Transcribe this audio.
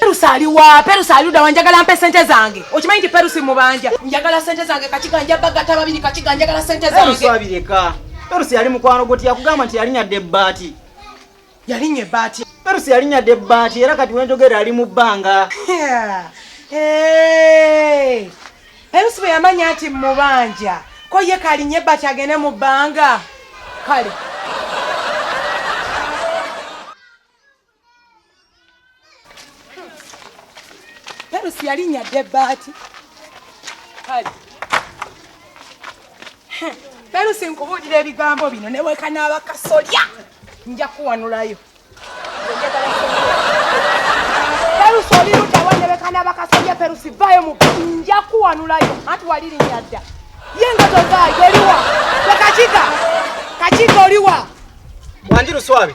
Perusi ali wa? Perusi ali ludawa? Njagala mpe sente zange. Okimanyi nti Perusi mubanja. Njagala sente zange kakiga nja bagata babiri kakiga njagala sente zange. Perusi abireka. Perusi yali mukwano goti yakugamba nti yalinya de bati. Yalinye bati. Perusi yalinya de bati era kati wenjogera ali mu banga. Yeah. Hey. Perusi bwe yamanya ati mubanja. Ko ye kalinye bati agene mu banga. Kale. perusi yalinya dde baati kale perusi nkubuulira ebigambo bino newekanaaba kasolya nja kuwanulayo perusi olirutawa newekanaaba kasolya perusi vayo mu nja kuwanulayo anti walirinya dda ye nga tozaayo oliwa ekakiga kakiga oliwa wanji luswabi